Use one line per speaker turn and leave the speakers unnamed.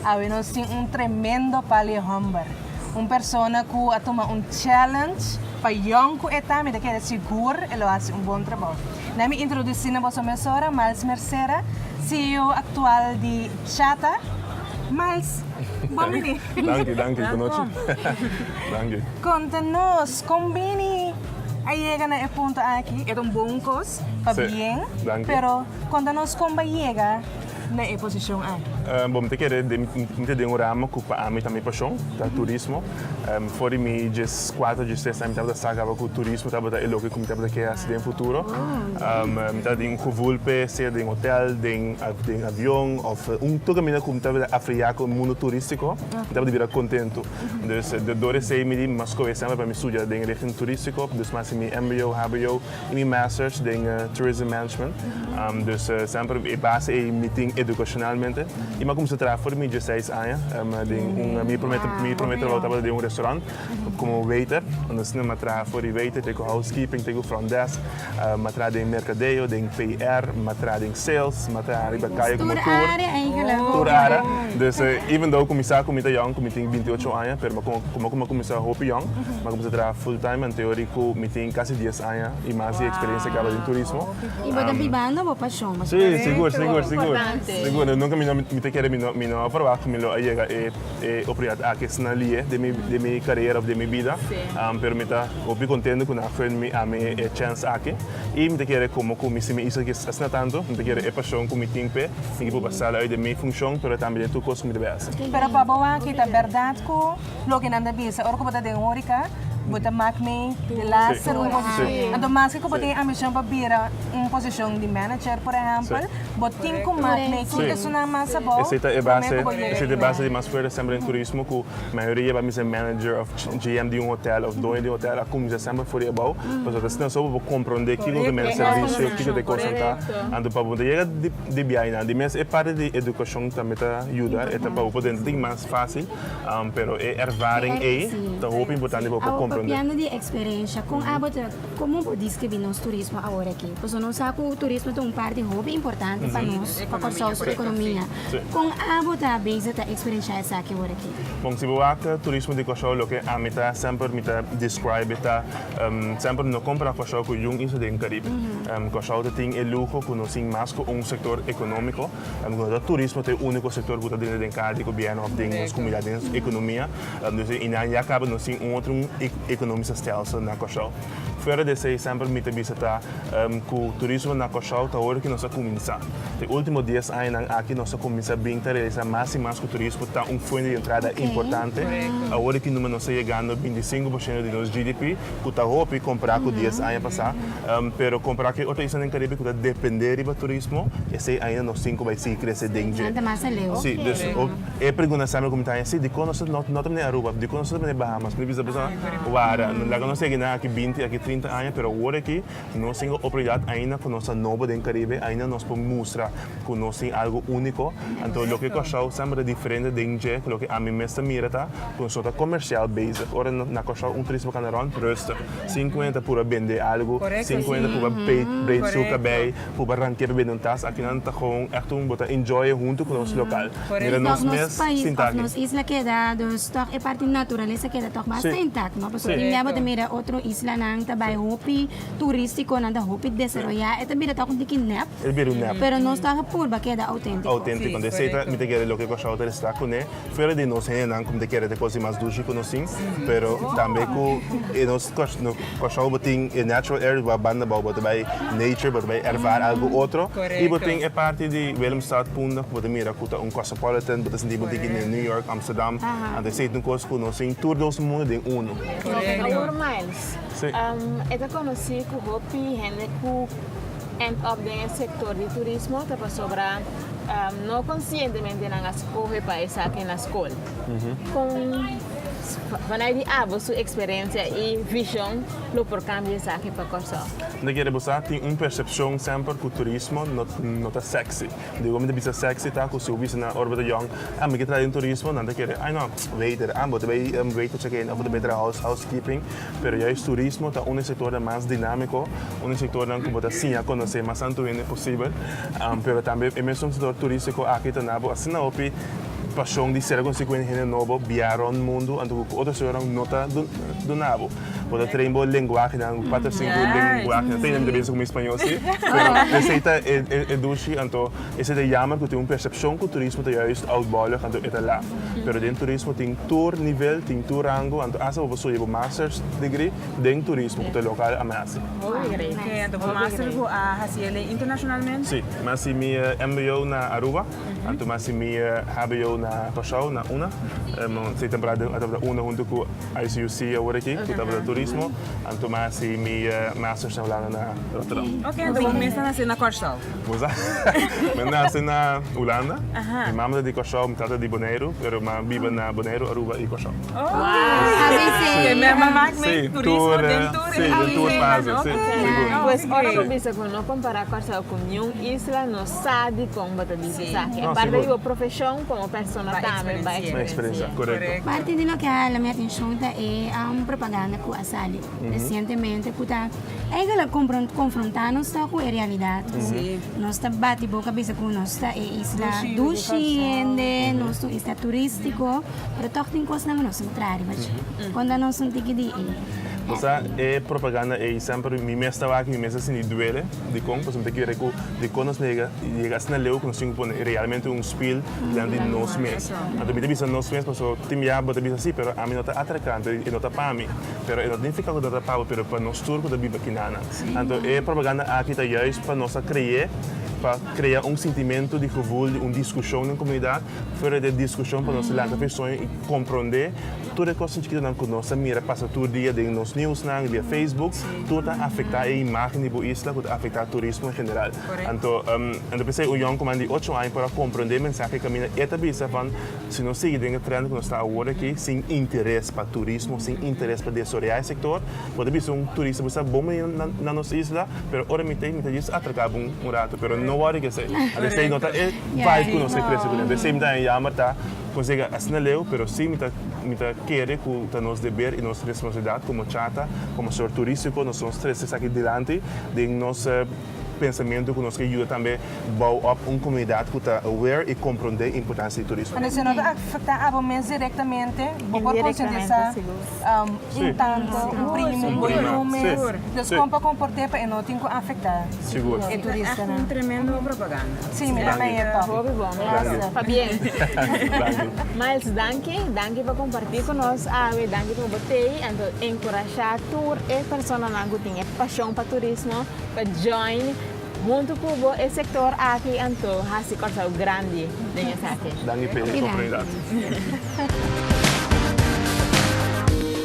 Awe nos tin un tremendo palie homber. Un persona cu a tuma un challenge, pa yong cu e ta, mi ta kere sigur e lo haci un bon trabao. Na mi introduci na boso mesora Miles Mercera, CEO actual di Chata. Miles, bon bini. Danki, danki, cu nochi. Danki. Conta nos, con bini? a yega na e punto aki e ta un bon cos pa bien, pero con ta nos con bay yega na e posicion aki? Bo mi ta kere den mi ta den un ramo cu pa ami ta mi pasion, ta turismo. For di mi dies cuatro dies tres aña mi tabata sa caba cu turismo tabata e loke cu mi tabata kere haci den futuro. Mi ta den un gevoel p'e sea den hotel, den avion of un tur caminda cu mi tabata afriya cu e mundo turistico mi tabata bira contento. Dus de dor esei mi di mas kohe semper pa mi studia den richting turistiko, dus mi hasi mi mbo, hbo i mi masters den tourism management. Dus semper e base ei mi tin edukashonalmente. I mi a kuminsá traha for mi diesseis aña den un, mi promé trabou tabata den un restaurant komo waiter, unda esnan mi a traha for di waiter te ku housekeeping te ku front desk. M a traha den merkadeo, den PR, m a traha den sales, m a traha riba kaya ku motor, tur área. Dus, even though ku mi sa ku mi ta yòn, ku mi tin binti ocho aña, pero mi a kòrda kòmke ku mi a kuminsá hopi yòn. Mi a kuminsá traha full time anto yori ku mi tin kasi dies aña i mas di eksperensia kaba den turismo. I bo ta bibando bo pashon, bo ta. Sí, sigur, sigur, sigur. Nos nunka mi no mi ta kere mi no mi no a verwagt ku mi lo a yega e. e oportunidad aki esnan lié den mi den mi carera of den mi bida pero mi ta hopi contento cu nan a fen mi ami e chance aki y mi ta kere como cu mi si mi hizo asina tanto mi ta kere e pasion cu mi tin p'e mi kipo basalo uit den mi funcion pero tambe den tur cos cu mi debe haci. Pero pa bo aki ta berdad cu loke nan ta bisa ora cu bo ta den horeca bo ta mak mi di laster un posicion anto maske cu bo tin e ambicion pa bira un posicion di manager por ehempel Bo tin cu maak mee kin personan mas abou, Esey ta e base, esey ta e base di mas fuerte semper den turismo cu mayoria di mise manager of GM di un hotel of doño di hotel a cuminsha semper for di abou pasobra ta snel so bo comprende kico cu mester servicio, kico cu e cos nan ta. Anto pa bo ta yega di biaha nan di mes e parte di educacion tambe ta yuda e ta pa bo por dentro tin mas facil pero e ervaring ey ta hopi importante pa bo por comprende. Awo papiando di experiencia con abo ta. Komo bo deskribí nos turismo awor aki? Pasobra nos sa ku turismo ta un parti hopi importante pa nos, pa Kòrsou su ekonomia. Kon abo ta bisa ta eksperiensha esaki awor aki? Bon, si bo wak turismo di Kòrsou, loke ami ta semper mi ta describe ta semper no kompara Kòrsou ku yun isla den Karibe. Kòrsou ta tin e luho ku no tin mas ku un sektor ekonómiko. Lo que nos ta turismo ta e unico sector cu ta dentro den cada gobierno of den nos comunidad den nos economia. Dus e nan ya caba nos tin un otro economico stelsel na Curaçao. Fuera di esey semper mi ta bisa ta cu turismo na Curaçao ta ora cu nos ta cuminsa. Ta e ultimo dies añanan aki nos ta cuminsa bin ta realisa mas y mas cu turismo ta un fuente di entrada importante. Awor e ki numero nos ta yegando binti y sinku por ciento di nos GDP cu ta hopi compara cu dies aña pasa. Pero compará cu e otro isla den Caribe cu ta depende riba turismo, esey ainda nos tin cu bay sigui crece den dje. Nan ta mas aleu. Sí, dus e pregunta nan sabi cu mi ta haña, sí, dicon nos ta, no ta mira e Aruba, dicon nos no ta mira e Bahamas? Mi bisa boso, wara, laga nos segui nan aki binti, aki trinta aña, pero awor aki nos tin e oportunidad ainda cu nos ta nobo den Caribe, ainda nos por mustra cu nos tin algo unico, anto loke Curaçao sama ta diferente den dje cu loke ami mes ta mira ta cu nos no ta comercial bezig, ora na Curaçao un turista por cana rond, rustig. Sinkuenta pur a bende algu, sinkuenta pur a breid su kabei, pur a rantea pa bende un tas. Al final ta gewoon echt un bo ta enjoy e huntu ku nos lokal. Mira nos mes sinta aki. Nos isla keda, dus tòg e parti naturalesa keda tòg basta intact, no? Pasobra dje bo ta mira otro islanan ta bai hopi turístiko, nan ta hopi desaroyá. E ta bira tòg un tiki nèp. E ta bira un nèp. Pero nos tòg a purba keda outéntiko. Outéntiko. Desei ta mi ta kere loke Kòrsou ta resla kuné. Fuera di nos hendenan ku mi ta kere ta kosi mas dushi ku nos tin, pero tambe ku e nos kòrsou ku bo tin e natural air ku a banda abou bo ta bai nature, bo ta bai erfar algu otro. I bo tin e parti di Willemstad, Punda ku bo ta mira ku ta un cosmopolitan, bo ta sinti bo tin aki den New York, Amsterdam. Anto esei ta un kos ku nos tin tur dos mundu den unu. Awor Miles, e ta konosí ku hopi hende ku. End up den e sector di turismo ta pasobra no conscientemente nan a scoge pa esaki na scol. Con vanai di abo su experiencia y vision lo por cambia esaki pa Corsou? Nta kere bo sa tin un percepcion semper cu turismo no ta sexy. Diego mi ta bisa sexy ta cu si bo bisa na Urban de Jong, ah mi ke traha den turismo, nan ta kere, ay no, waiter, ah bo ta bay waiter check in of bo ta bay traha housekeeping. Pero juist turismo ta un di e sektornan mas dinamiko, un di e sektornan ku bo ta siña konosé mas antu hende posibel. Pero tambe e mesun sektor turistiko aki ta na bo asina hopi pashon di ser konosí ku hende hende nobo, biaha rònt mundu anto ku otro sektornan no ta duna bo. Bo ta train bo lenguahenan, un kuater sinku lenguahenan, ta hende mi ta bisa ku mi spañol si, pero esei ta e dushi anto. Esei ta jammer cu tin un percepcion cu turismo ta juist oud bollig anto e ta laf. Pero den turismo tin tur nivel, tin tur rango, anto hasta bo ta studia bo Masters degree den turismo cu ta local a mester. Hopi great. Oké, anto bo Master bo a haci elei internacionalmente? Sí, mi a haci mi mbo na Aruba, anto mi a haci mi hbo na Curaçao, na una. Mi a haci temporada den tabata una hunto cu ICUC awor aki, cu tabata turismo, anto mi a haci mi Masters na Hulanda na Rotterdam. Oké, anto bo mester nace na Curaçao? Mi nase na Hulanda. Mi mama ta di Kòrsou, mi tata di Boneiru, pero mi a biba na Boneiru, Aruba i Kòrsou. Te mester mak mi turismo den tur e den tur fase, si. Sigur. Pues ora bo bisa ku no kompará Kòrsou ku niun isla, no sa dikon bo ta bisa esaki. E parte di bo profeshon komo persona tambe bai eksperensi'é. Bai eksperensi'é, korekto. Parte di loke a hala mi atenshon ta e un propaganda ku a sali resientemente ku ta. Eigenlijk confronta nos ta cu e realidad cu nos ta bati boca bisa cu nos ta e isla dushi hende, nos ta un isla turistico, pero toch tin cosnan cu nos entra riba dje. Conta nos un tiki di e. O sea, e propaganda ei semper mi mes ta wak, mi mes ta sinti duele. Dikon? Pasobra mi ta kere ku dikon nos nega yega asina leu ku nos tin ku pone realmente un spiel dilanti di nos mes. Anto mi ta bisa nos mes pasobra tin bia bo ta bisa sí, pero ami no ta atracante, e no ta pa mi. Pero e no ta nifiká ku ta rapá bo, pero pa nos tur ku ta biba kinana. Anto e propaganda aki ta juis pa nos a kreé, pa krea un sintimentu di gevul di un diskushon den komunidat, fuera di e diskushon pa nos laga fesoño i komprondé tur e kosnan chikitonan ku nos ta mira pasa tur dia den nos niusnan i via Facebook, tur ta afektá e imágen di bo isla ku ta afektá turismo en general. Anto, anto p'esei un yòn koman di ocho aña por a komprondé e mensahe kaminda. E ta bisa van. Si nos sigui den e trend ku nos ta awor aki, sin interes pa turismo, sin interes pa desoriá e sektor, bo ta bisa un turista ku sa bon bini na nos isla, pero ora mi ta ei, mi ta just atraká bo un ratu, pero no wòrdu ke esei. Ant esei no ta e vibe ku nos ta krese ku nel. Esei mi ta haña yamber ta konsega asina leu, pero sí mi ta mi ta kere ku ta nos deber i nos responsabilidat komo chata, komo sektor turístiko, nos nos trese esaki dilanti den nos. pensamentu ku nos ke yuda tambe bou op un komunidat ku ta aware i komprondé importansia di turismo. Si no ta afektá abo mes direktamente, bo por konsientisá un tanto, un primo, bo i un mes. Entonces kon pa komport'é pa e no tin ku afektá e turistanan? Sí, mi ta na e tòpiko. Hopi bon, gracias. Pabien. Miles, danki. Danki pa kompartí ku nos awe. Danki pa bo tei. Anto enkurashá tur e personanan ku tin e pashon pa turismo. pa join huntu cu bo e sector aki anto haci Curaçao grandi den esaki. Danki Pedro por pregadi.